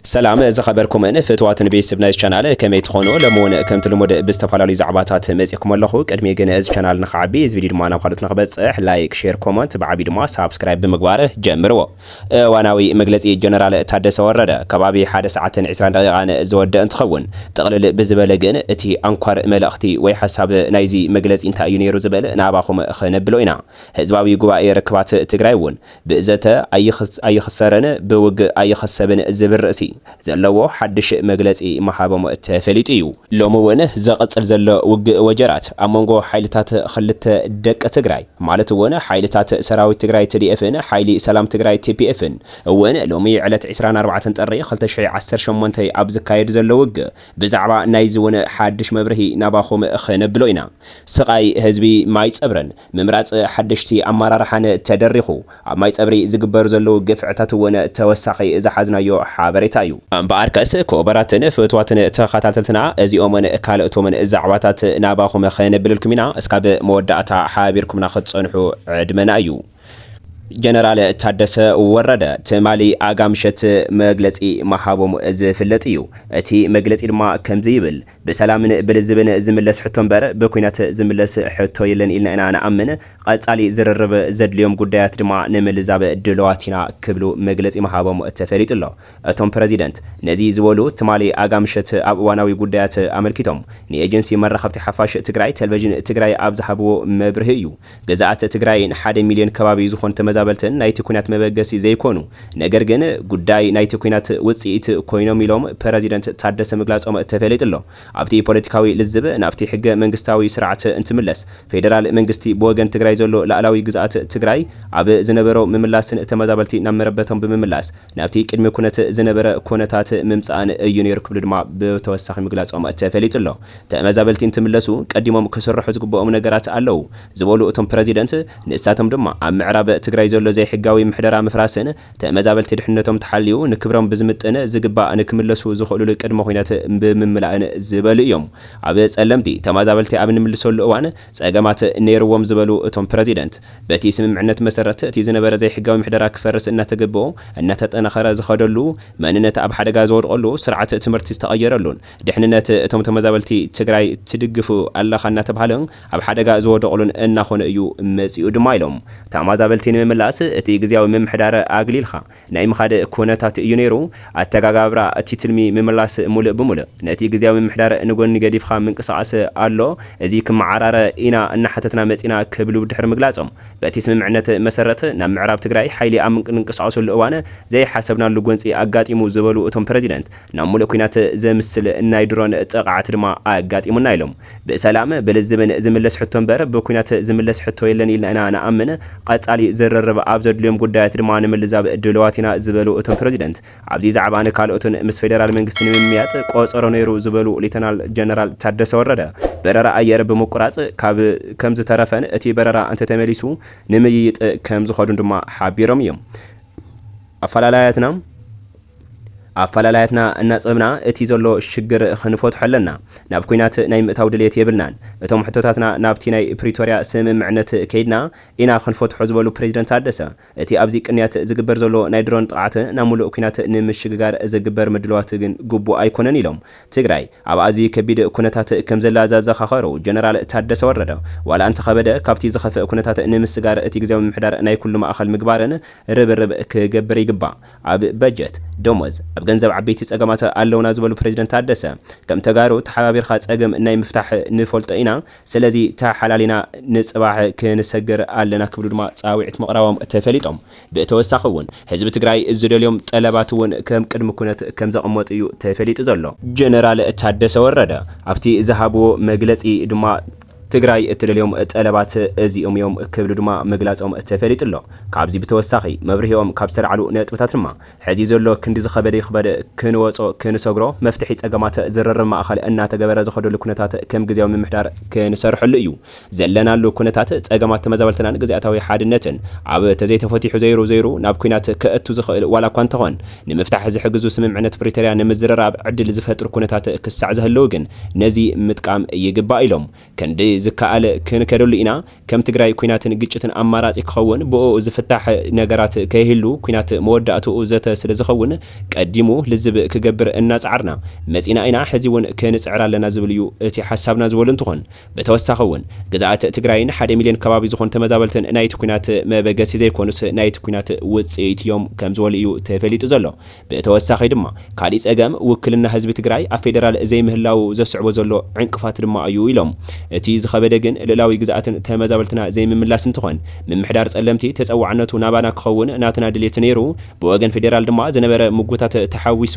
ሰላም ዝኸበርኩምን ፍትዋትን ቤት ስብ ናይዝ ቻናል ከመይ ትኾኑ ሎሚ ውን ከምቲ ልሙድ ብዝተፋላለዩ ዛዕባታት መጽኩም ኣለኹ ቅድሚ ግን እዝ ቻናል ንክዓቢ እዝ ቪድዩ ድማ ናብ ካልኦት ንክበጽሕ ላይክ ሼር ኮሞንት ብዓብዩ ድማ ሳብስክራይብ ብምግባር ጀምርዎ እዋናዊ መግለጺ ጀነራል ታደሰ ወረደ ከባቢ ሓደ ሰዓትን ዕስራን ደቂቃን ዝወደእ እንትኸውን ጥቕልል ብዝበለ ግን እቲ ኣንኳር መልእኽቲ ወይ ሓሳብ ናይዚ መግለጺ እንታይ እዩ ነይሩ ዝብል ናባኹም ክነብሎ ኢና ህዝባዊ ጉባኤ ርክባት ትግራይ ውን ብዘተ ኣይኽሰርን ብውግእ ኣይኽሰብን ዝብል ርእሲ ዘለዎ ሓድሽ መግለጺ ምሃቦም ተፈሊጡ እዩ። ሎሚ እውን ዘቐጽል ዘሎ ውግእ ወጀራት ኣብ መንጎ ሓይልታት ኽልተ ደቂ ትግራይ ማለት እውን ሓይልታት ሰራዊት ትግራይ ትዲኤፍን ሓይሊ ሰላም ትግራይ ቲፒኤፍን እውን ሎሚ ዕለት ዕስራን ኣርባዕተን ጥሪ ክልተ ሽሕ ዓሰርተ ሸሞንተ ኣብ ዝካየድ ዘሎ ውግእ ብዛዕባ ናይዚ እውን ሓድሽ መብርሂ ናባኹም ኽነብሎ ኢና ስቓይ ህዝቢ ማይጸብርን ምምራፅ ሓደሽቲ ኣመራርሓን ተደሪኹ ኣብ ማይፀብሪ ዝግበሩ ዘለዉ ግፍዕታት እውን ተወሳኺ ዝሓዝናዮ ሓበሬታ እዩ። እምበኣርከስ ክቡራትን ፍትዋትን ተኸታተልትና እዚኦምን ካልኦቶምን ዛዕባታት ናባኹም ከነብልልኩም ኢና እስካብ መወዳእታ ሓቢርኩምና ክትፀንሑ ዕድመና እዩ። ጀነራል ታደሰ ወረደ ትማሊ ኣጋ ምሸት መግለፂ ምሃቦም ዝፍለጥ እዩ። እቲ መግለፂ ድማ ከምዚ ይብል። ብሰላምን ብልዝብን ዝምለስ ሕቶ እምበር ብኲናት ዝምለስ ሕቶ የለን ኢልና ኢና ንኣምን፣ ቐፃሊ ዝርርብ ዘድልዮም ጉዳያት ድማ ንምልዛብ ድሉዋት ኢና ክብሉ መግለፂ ምሃቦም ተፈሊጡ'ሎ። እቶም ፕረዚደንት ነዚ ዝበሉ ትማሊ ኣጋምሸት ኣብ እዋናዊ ጉዳያት ኣመልኪቶም ንኤጀንሲ መራኸብቲ ሓፋሽ ትግራይ ቴልቨዥን ትግራይ ኣብ ዝሃብዎ መብርሂ እዩ። ግዝኣት ትግራይን ሓደ ሚልዮን ከባቢ ዝኾኑ ተመዛበልትን ናይቲ ኲናት መበገሲ ዘይኮኑ ነገር ግን ጉዳይ ናይቲ ኲናት ውፅኢት ኮይኖም ኢሎም ፕረዚደንት ታደሰ ምግላፆም ተፈሊጡ'ሎ። ኣብቲ ፖለቲካዊ ልዝብ ናብቲ ሕገ መንግስታዊ ስርዓት እንትምለስ ፌደራል መንግስቲ ብወገን ትግራይ ዘሎ ላእላዊ ግዝኣት ትግራይ ኣብ ዝነበሮ ምምላስን ተመዛበልቲ ናብ መረበቶም ብምምላስ ናብቲ ቅድሚ ኩነት ዝነበረ ኩነታት ምምጻኣን እዩ ነይሩ ክብሉ ድማ ብተወሳኺ ምግላጾም ተፈሊጡ ኣሎ። ተመዛበልቲ እንትምለሱ ቀዲሞም ክስርሑ ዝግበኦም ነገራት ኣለው ዝበሉ እቶም ፕረዚደንት፣ ንሳቶም ድማ ኣብ ምዕራብ ትግራይ ዘሎ ዘይሕጋዊ ምሕደራ ምፍራስን ተመዛበልቲ ድሕንነቶም ተሓልዩ ንክብሮም ብዝምጥን ዝግባእ ንክምለሱ ዝኽእሉሉ ቅድመ-ኩነት ብምምላእን ዝበሉ እዮም። ኣብ ጸለምቲ ተማዛበልቲ ኣብ እንምልሰሉ እዋን ፀገማት ነይርዎም ዝበሉ እቶም ፕረዚደንት፣ በቲ ስምምዕነት መሰረት እቲ ዝነበረ ዘይሕጋዊ ምሕደራ ክፈርስ እናተገብኦ እናተጠናኸረ ዝኸደሉ፣ መንነት ኣብ ሓደጋ ዝወድቐሉ፣ ስርዓት ትምህርቲ ዝተቐየረሉን ድሕንነት እቶም ተመዛበልቲ ትግራይ ትድግፍ ኣለኻ እናተብሃለ ኣብ ሓደጋ ዝወደቕሉን እናኾነ እዩ መፂኡ ድማ ኢሎም። ተማዛበልቲ ንምምላስ እቲ ግዝያዊ ምምሕዳር ኣግሊልኻ ናይ ምኻድ ኩነታት እዩ ነይሩ። ኣተጋጋብራ እቲ ትልሚ ምምላስ ሙልእ ብሙልእ ነቲ ግዝያዊ ምምሕዳር ንጎኒ ገዲፍኻ ምንቅስቓስ ኣሎ፣ እዚ ክመዓራረ ኢና እናሓተትና መፂና ክብሉ ድሕሪ ምግላፆም በቲ ስምምዕነት መሰረት ናብ ምዕራብ ትግራይ ሓይሊ ኣብ ንንቀሳቐሰሉ እዋን ዘይሓሰብናሉ ጎንፂ ኣጋጢሙ ዝበሉ እቶም ፕረዚደንት ናብ ሙልእ ኩናት ዘምስል ናይ ድሮን ጥቕዓት ድማ ኣጋጢሙና ኢሎም። ብሰላም፣ ብልዝብን ዝምለስ ሕቶ እምበር ብኲናት ዝምለስ ሕቶ የለን ኢልና ኢና ንኣምን። ቐፃሊ ዝርርብ ኣብ ዘድልዮም ጉዳያት ድማ ንምልዛብ ድሉዋት ኢና ዝበሉ እቶም ፕረዚደንት፣ ኣብዚ ዛዕባን ካልኦትን ምስ ፌዴራል መንግስቲ ንምምያጥ ቆፀሮ ነይሩ ዝበሉ ሌተናል ጀነራል ታደሰ ወረደ፣ በረራ ኣየር ብምቁራፅ ካብ ከምዝተረፈን እቲ በረራ እንተተመሊሱ ንምይይጥ ከምዝኸዱን ድማ ሓቢሮም እዮም። ኣፈላላያትና ኣፈላላያትና እናጸብና እቲ ዘሎ ሽግር ክንፈትሖ ኣለና። ናብ ኩናት ናይ ምእታው ድልየት የብልናን። እቶም ሕቶታትና ናብቲ ናይ ፕሪቶርያ ስምምዕነት ከይድና ኢና ክንፈትሖ ዝበሉ ፕረዚደንት ታደሰ፣ እቲ ኣብዚ ቅንያት ዝግበር ዘሎ ናይ ድሮን ጥቕዓት ናብ ሙሉእ ኩናት ንምሽግጋር ዝግበር ምድላዋት ግን ግቡእ ኣይኮነን ኢሎም። ትግራይ ኣብ ኣዝዩ ከቢድ ኩነታት ከምዘላ ዘዘኻኸሩ ጀነራል ታደሰ ወረደ፣ ዋላ እንተኸበደ ካብቲ ዝኸፍእ ኩነታት ንምስጋር እቲ ግዝያዊ ምምሕዳር ናይ ኩሉ ማእኸል ምግባርን ርብርብ ክገብር ይግባእ። ኣብ በጀት፣ ደሞዝ፣ ኣብ ገንዘብ ዓበይቲ ፀገማት ኣለውና ዝበሉ ፕረዚደንት ታደሰ፣ ከም ተጋሩ ተሓባቢርካ ፀገም ናይ ምፍታሕ ንፈልጦ ኢና፣ ስለዚ ተሓላሊና ንፅባሕ ክንሰግር ኣለና ክብሉ ድማ ፃውዒት ምቕራቦም ተፈሊጦም። ብተወሳኺ እውን ህዝቢ ትግራይ ዝደልዮም ጠለባት እውን ከም ቅድሚ ኩነት ከም ዘቐመጡ እዩ ተፈሊጡ ዘሎ። ጀነራል ታደሰ ወረደ ኣብቲ ዝሃብዎ መግለፂ ድማ ትግራይ እትደልዮም ጠለባት እዚኦም እዮም ክብሉ ድማ ምግላፆም ተፈሊጡ ኣሎ። ካብዚ ብተወሳኺ መብርሂኦም ካብ ዝተልዓሉ ነጥብታት ድማ ሕዚ ዘሎ ክንዲ ዝኸበደ ይኽበድ ክንወጾ ክንሰግሮ መፍትሒ ጸገማት ዝርርብ ማእኸል እናተገበረ ዝኸደሉ ኩነታት ከም ግዝያዊ ምምሕዳር ክንሰርሐሉ እዩ። ዘለናሉ ኩነታት ጸገማት ተመዛበልትናን ግዝኣታዊ ሓድነትን ኣብ ተዘይተፈቲሑ ዘይሩ ዘይሩ ናብ ኩናት ከእቱ ዝኽእል ዋላ እኳ እንተኾን ንምፍታሕ ዝሕግዙ ስምምዕነት ፕሪተርያ ንምዝርራብ ዕድል ዝፈጥሩ ኩነታት ክሳዕ ዝሀለው ግን ነዚ ምጥቃም ይግባእ ኢሎም ክንዲ ዝከኣል ክንከደሉ ኢና ከም ትግራይ ኩናትን ግጭትን ኣማራፂ ክኸውን ብኡኡ ዝፍታሕ ነገራት ከይህሉ ኩናት መወዳእትኡ ዘተ ስለዝኸውን ቀዲሙ ልዝብ ክገብር እናፀዓርና መፂእና ኢና ሕዚውን ክንፅዕር ኣለና ዝብል እዩ እቲ ሓሳብና ዝበሉ እንትኾን ብተወሳኺ እውን ግዝኣት ትግራይን ሓደ ሚልዮን ከባቢ ዝኾኑ ተመዛበልትን ናይቲ ኩናት መበገሲ ዘይኮኑስ ናይቲ ኩናት ውፅኢት እዮም ከምዝበሉ እዩ ተፈሊጡ ዘሎ ብተወሳኺ ድማ ካሊእ ፀገም ውክልና ህዝቢ ትግራይ ኣብ ፌደራል ዘይምህላዉ ዘስዕቦ ዘሎ ዕንቅፋት ድማ እዩ ኢሎም። እቲ ዝኸበደ ግን ልእላዊ ግዝኣትን ተመዛበልትና ዘይምምላስ እንትኾን ምምሕዳር ፀለምቲ ተፀዋዕነቱ ናባና ክኸውን ናትና ድልየት ነይሩ ብወገን ፌደራል ድማ ዝነበረ ምጉታት ተሓዊሱ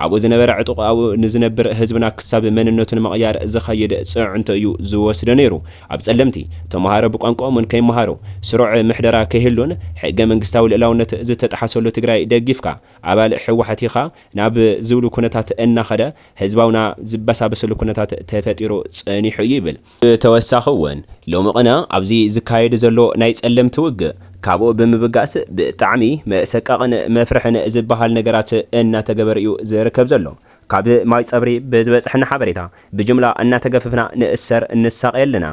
ኣብኡ ዝነበረ ዕጡቕ ኣብኡ ንዝነብር ህዝብና ክሳብ መንነቱ ንምቕያር ዝኸይድ ፅዕንቶ እዩ ዝወስዶ ነይሩ ኣብ ጸለምቲ፣ ተመሃሮ ብቋንቋኦምን ከይመሃሩ፣ ስሩዕ ምሕደራ ከይህሉን ሕገ መንግስታዊ ልእላውነት ዝተጥሓሰሉ ትግራይ ደጊፍካ ኣባል ህወሓት ኢኻ ናብ ዝብሉ ኩነታት እናኸደ ህዝባውና ዝበሳበሰሉ ኩነታት ተፈጢሩ ጸኒሑ እዩ ይብል። ብተወሳኺ እውን ሎሚ ቕነ ኣብዚ ዝካየድ ዘሎ ናይ ጸለምቲ ውግእ ካብኡ ብምብጋስ ብጣዕሚ መሰቃቕን መፍርሕን ዝበሃል ነገራት እናተገበረ እዩ ዝርከብ ዘሎ። ካብ ማይጸብሪ ብዝበጸሐና ሓበሬታ ብጅምላ እናተገፈፍና ንእሰር ንሳቐ ኣለና።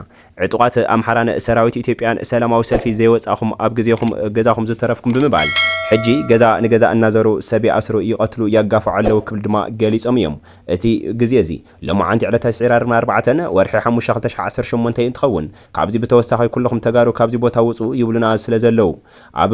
ዕጡቓት ኣምሓራን ሰራዊት ኢትዮጵያን ሰላማዊ ሰልፊ ዘይወጻእኹም ኣብ ግዜኹም ገዛኹም ዝተረፍኩም ብምባል ሕጂ ገዛ ንገዛ እናዘሩ ሰብ ይኣስሩ ይቐትሉ ያጋፍዑ ኣለዉ ክብል ድማ ገሊጾም እዮም። እቲ ግዜ እዚ ሎማዓንቲ ዕለተ ዒራርብ ኣርባዕተ ወርሒ ሓሙሽተ ክልተ ሽሕ ዓሰርተ ሸሞንተ እንትኸውን ካብዚ ብተወሳኺ ኩሉኹም ተጋሩ ካብዚ ቦታ ውጹ ይብሉና ስለዘለዉ ኣብ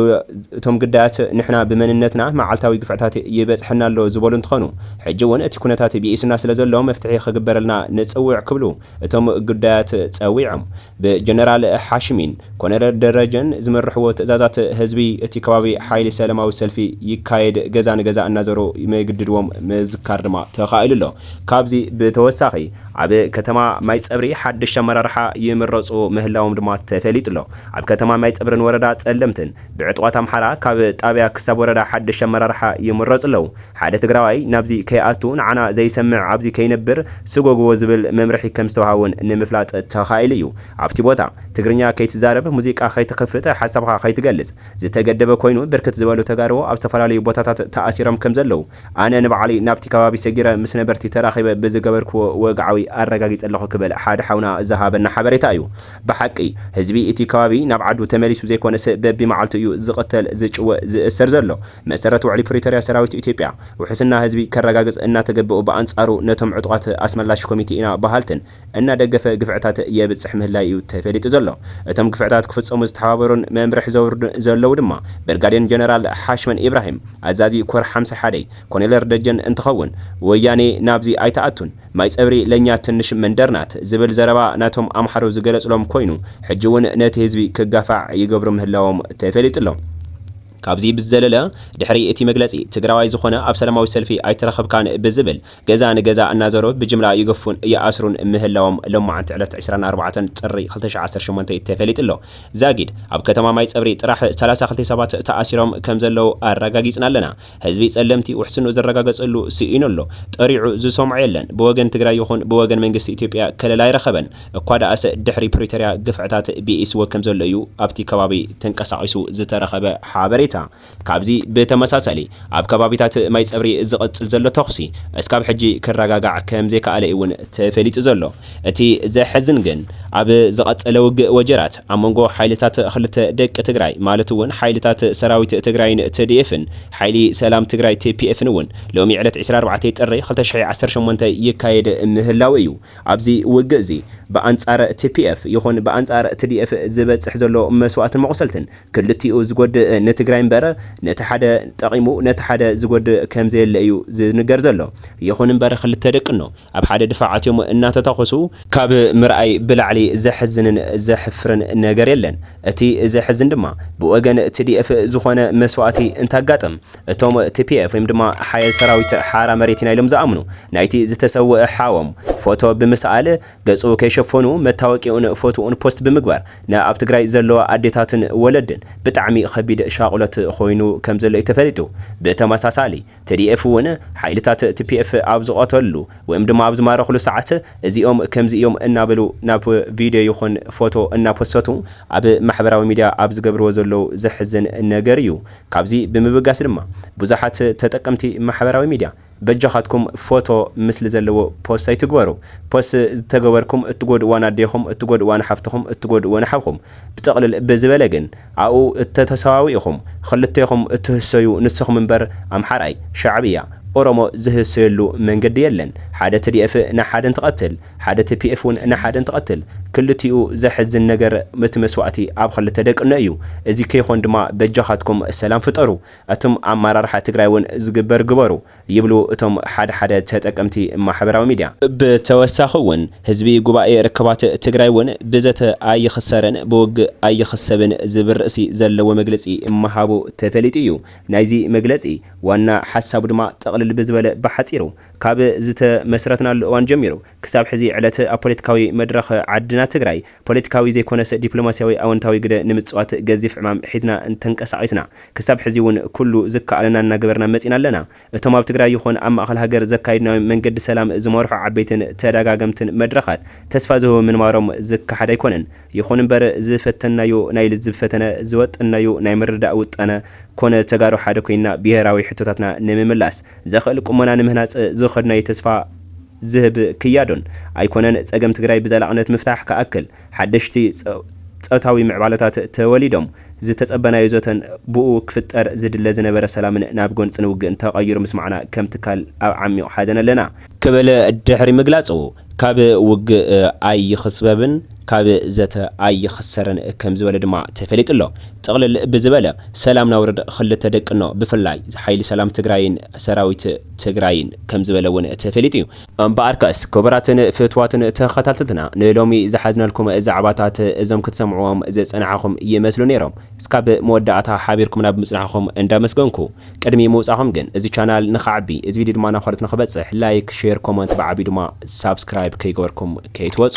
እቶም ግዳያት ንሕና ብመንነትና መዓልታዊ ግፍዕታት ይበጽሐና ኣሎ ዝበሉ እንትኾኑ፣ ሕጂ እውን እቲ ኩነታት ብኢሱና ስለዘሎ መፍትሒ ክግበረልና ንጽውዕ ክብሉ እቶም ግዳያት ጸዊዖም። ብጀነራል ሓሽሚን ኮነረል ደረጀን ዝምርሕዎ ትእዛዛት ህዝቢ እቲ ከባቢ ሓይሊ ሰለማዊ ሰልፊ ይካየድ ገዛ ንገዛ እናዘሩ ምግድድዎም ምዝካር ድማ ተኻኢሉ ኣሎ። ካብዚ ብተወሳኺ ኣብ ከተማ ማይጸብሪ ሓደሽቲ ኣመራርሓ ይምረጹ ምህላዎም ድማ ተፈሊጡ ኣሎ። ኣብ ከተማ ማይጸብሪን ወረዳ ጸለምትን ብዕጡቓት ኣምሓራ ካብ ጣብያ ክሳብ ወረዳ ሓድሽ ኣመራርሓ ይምረጹ ኣለዉ። ሓደ ትግራዋይ ናብዚ ከይኣቱ ንዓና ዘይሰምዕ ኣብዚ ከይነብር ስጎግዎ ዝብል መምርሒ ከም ዝተውሃቦን ንምፍላጥ ተኻኢሉ እዩ። ኣብቲ ቦታ ትግርኛ ከይትዛረብ፣ ሙዚቃ ከይትኽፍት፣ ሓሳብኻ ከይትገልጽ ዝተገደበ ኮይኑ ብርክት ዝበሉ ተጋሩ ኣብ ዝተፈላለዩ ቦታታት ተኣሲሮም ከም ዘለዉ ኣነ ንባዕለይ ናብቲ ከባቢ ሰጊረ ምስ ነበርቲ ተራኺበ ብዝገበርክዎ ወግዓዊ ኣረጋጊጸ ኣለኹ ክብል ሓደ ሓውና ዝሃበና ሓበሬታ እዩ። ብሓቂ ህዝቢ እቲ ከባቢ ናብ ዓዱ ተመሊሱ ዘይኮነስ በቢመዓልቱ እዩ ዝቕተል፣ ዝጭወ፣ ዝእሰር ዘሎ። መሰረት ውዕሊ ፕሪቶርያ ሰራዊት ኢትዮጵያ ውሕስና ህዝቢ ከረጋግጽ እናተገበኡ ብኣንጻሩ ነቶም ዕጡቓት ኣስመላሽ ኮሚቴ ኢና በሃልትን እናደገፈ ግፍዕታት የብጽሕ ምህላዩ'ዩ ተፈሊጡ ዘሎ። እቶም ግፍዕታት ክፍጸሙ ዝተሓባበሩን መምርሒ ዘውርዱን ዘለዉ ድማ፣ ብርጋዴን ጀነራል ሓሽመን ኢብራሂም፣ ኣዛዚ ኮር ሓምሳ ሓደይ፣ ኮኔለር ደጀን እንትኸውን፣ ወያኔ ናብዚ ኣይትኣቱን፣ ማይጸብሪ ለኛ ትንሽ መንደር ናት ዝብል ዘረባ ናቶም ኣምሓሩ ዝገለጽሎም ኮይኑ፣ ሕጂ'ውን ነቲ ህዝቢ ክጋፋዕ ይገብሩ ምህላዎም ተፈሊጡ'ሎ። ካብዚ ብዝዘለለ፣ ድሕሪ እቲ መግለጺ፣ ትግራዋይ ዝኾነ ኣብ ሰላማዊ ሰልፊ ኣይተረኸብካን ብዝብል ገዛ ንገዛ እናዞሩ ብጅምላ ይገፉን ይኣስሩን ምህላዎም ሎማዕንቲ ዕለት ዕስራን ኣርባዕተን ጥሪ ክልተ ሺሕ ዓሰርተ ሸሞንተ ተፈሊጡ ኣሎ። ዛጊድ ኣብ ከተማ ማይጸብሪ ጥራሕ ሰላሳ ክልተ ሰባት ተኣሲሮም ከምዘለዉ ኣረጋጊጽና ኣለና። ህዝቢ ጸለምቲ ውሕስንኡ ዝረጋገጸሉ ስኢኑ ኣሎ። ጠሪዑ ዝሰምዖ የለን። ብወገን ትግራይ ይኹን ብወገን መንግስቲ ኢትዮጵያ ከለላ ኣይረኸበን። እኳደኣሰ ድሕሪ ፕሪቶርያ ግፍዕታት ብኢስዎ ከምዘሎ እዩ ኣብቲ ከባቢ ተንቀሳቒሱ ዝተረኸበ ሓበሬታ። ካብዚ ብተመሳሳሊ ኣብ ከባቢታት ማይጸብሪ ዝቕጽል ዘሎ ተኹሲ እስካብ ሕጂ ክረጋጋዕ ከምዘይከኣለ'ዩ ውን ተፈሊጡ ዘሎ። እቲ ዘሕዝን ግን ኣብ ዝቐጸለ ውግእ ወጀራት ኣብ መንጎ ሓይልታት ክልተ ደቂ ትግራይ ማለት ውን ሓይልታት ሰራዊት ትግራይን ትዲኤፍን ሓይሊ ሰላም ትግራይ tpf-ን ውን ሎሚ ዕለት ዕስራን ኣርባዕተን ጥሪ ክልተ ሽሕ ዓሰርተ ሸሞንተ ይካየድ ምህላዉ እዩ። ኣብዚ ውግእዚ ብኣንጻር tpf ይኹን ብኣንጻር ትዲኤፍ ዝበጽሕ ዘሎ መስዋእትን መቑሰልትን ክልቲኡ ዝጎድእ ንትግራይ እምበር ነቲ ሓደ ጠቒሙ ነቲ ሓደ ዝጎድእ ከምዘየለ እዩ ዝንገር ዘሎ። ይኹን እምበር ክልተ ደቅኖ ኣብ ሓደ ድፋዕ ኣትዮም እናተታኾሱ ካብ ምርኣይ ብላዕሊ ዘሕዝንን ዘሕፍርን ነገር የለን። እቲ ዘሕዝን ድማ ብወገን tdf ዝኾነ መስዋእቲ እንተኣጋጥም እቶም tpf ወይም ድማ ሓየል ሰራዊት ሓራ መሬት ኢና ኢሎም ዝኣምኑ ናይቲ ዝተሰወኣ ሓዎም ፎቶ ብምስኣል ገጹ ከይሸፈኑ መታወቂኡን ፎትኡን ፖስት ብምግባር ንኣብ ትግራይ ዘለዋ ኣዴታትን ወለድን ብጣዕሚ ኸቢድ ሻቑሎት ኾይኑ ከምዘሎ እዩ ተፈሊጡ። ብተመሳሳሊ tdf እውን ሓይልታት tpf ኣብ ዝቐተሉሉ ወይም ድማ ኣብ ዝማረኹሉ ሰዓት እዚኦም ከምዚ እዮም እናበሉ ናብ ቪድዮ ይኹን ፎቶ እናፖሰቱ ኣብ ማሕበራዊ ሚድያ ኣብ ዝገብርዎ ዘለዉ ዘሕዝን ነገር እዩ። ካብዚ ብምብጋስ ድማ ብዙሓት ተጠቀምቲ ማሕበራዊ ሚድያ በጃኻትኩም ፎቶ ምስሊ ዘለዎ ፖስት ኣይትግበሩ ፖስት ተገበርኩም እትጎድእዋ ናዴኹም እትጎድእዋ ንሓፍትኹም እትጎድእዎ ንሓውኹም ብጥቕልል ብዝበለ ግን ኣብኡ እተተሰዋዊእኹም ኽልቴኹም እትህሰዩ ንስኹም እምበር ኣምሓራይ ሻዕብያ ኦሮሞ ዝህሰየሉ መንገዲ የለን ሓደ ትዲኤፍ ንሓደ እንትቐትል ሓደ ቲፒኤፍ ውን ንሓደ እንትቐትል ክልቲኡ ዘሕዝን ነገር እቲ መስዋእቲ ኣብ ኽልተ ደቂ እኖ እዩ እዚ ከይኾን ድማ በጃኻትኩም ሰላም ፍጠሩ ኣቱም ኣማራርሓ ትግራይ ውን ዝግበር ግበሩ ይብሉ እቶም ሓደ ሓደ ተጠቀምቲ ማሕበራዊ ሚድያ። ብተወሳኺ ውን ህዝቢ ጉባኤ ርክባት ትግራይ ውን ብዘተ ኣይኽሰርን ብውግእ ኣይኽሰብን ዝብል ርእሲ ዘለዎ መግለፂ ምሃቡ ተፈሊጡ ዩ። ናይዚ መግለፂ ዋና ሓሳቡ ድማ ጥቕልል ብዝበለ ብሓፂሩ ካብ ዝተመስረትናሉ እዋን ጀሚሩ ክሳብ ሕዚ ዕለት ኣብ ፖለቲካዊ መድረኽ ዓድና ትግራይ ፖለቲካዊ ዘይኮነስ ዲፕሎማሲያዊ ኣወንታዊ ግደ ንምፅዋት ገዚፍ ዕማም ሒዝና ተንቀሳቒስና ክሳብ ሕዚ ውን ኩሉ ዝከኣለና እናገበርና መፂና ኣለና። እቶም ኣብ ትግራይ ይኹን ኣብ ማእኸል ሃገር ዘካይድናዮም መንገዲ ሰላም ዝመርሑ ዓበይትን ተደጋገምትን መድረኻት ተስፋ ዝህቡ ምንባሮም ዝከሓድ ኣይኮነን። ይኹን እምበር ዝፈተንናዮ ናይ ልዝብ ፈተነ፣ ዝወጠንናዮ ናይ ምርድዳእ ውጠነ ኮነ ተጋሩ ሓደ ኮይንና ብሄራዊ ሕቶታትና ንምምላስ ዘኽእል ቁመና ንምህናፅ ዝኸድናዮ ተስፋ ዝህብ ክያዶን ኣይኮነን። ፀገም ትግራይ ብዘላቕነት ምፍታሕ ክኣክል ሓደሽቲ ፆታዊ ምዕባለታት ተወሊዶም ዝተፀበናዮ ዘተን ብኡ ክፍጠር ዝድለ ዝነበረ ሰላምን ናብ ጎንፅን ውግእን ተቐይሩ ምስማዕና ከም ትካል ኣብ ዓሚቕ ሓዘን ኣለና ክብል ድሕሪ ምግላፁ ካብ ውግእ ኣይኽስበብን፣ ካብ ዘተ ኣይኽሰርን ከምዝበለ ድማ ተፈሊጡ ኣሎ። ጥቕልል ብዝበለ ሰላም ናውርድ ኽልተ ደቅኖ ብፍላይ ሓይሊ ሰላም ትግራይን ሰራዊት ትግራይን ከምዝበለ እውን ተፈሊጡ እዩ። እምበኣርከስ ክቡራትን ፍትዋትን ተኸታተልትና ንሎሚ ዝሓዝናልኩም ዛዕባታት እዞም ክትሰምዕዎም ዝፀናሕኹም ይመስሉ ነይሮም። እስካብ መወዳእታ ሓቢርኩምና ብምፅናሕኹም እንዳመስገንኩ ቅድሚ ምውፃእኹም ግን እዚ ቻናል ንኽዓቢ እዚ ቪድዮ ድማ ናብ ኻልኦት ንኽበፅሕ ላይክ፣ ሼር፣ ኮመንት ብዓብዩ ድማ ሳብስክራይብ ከይገበርኩም ከይትወፁ።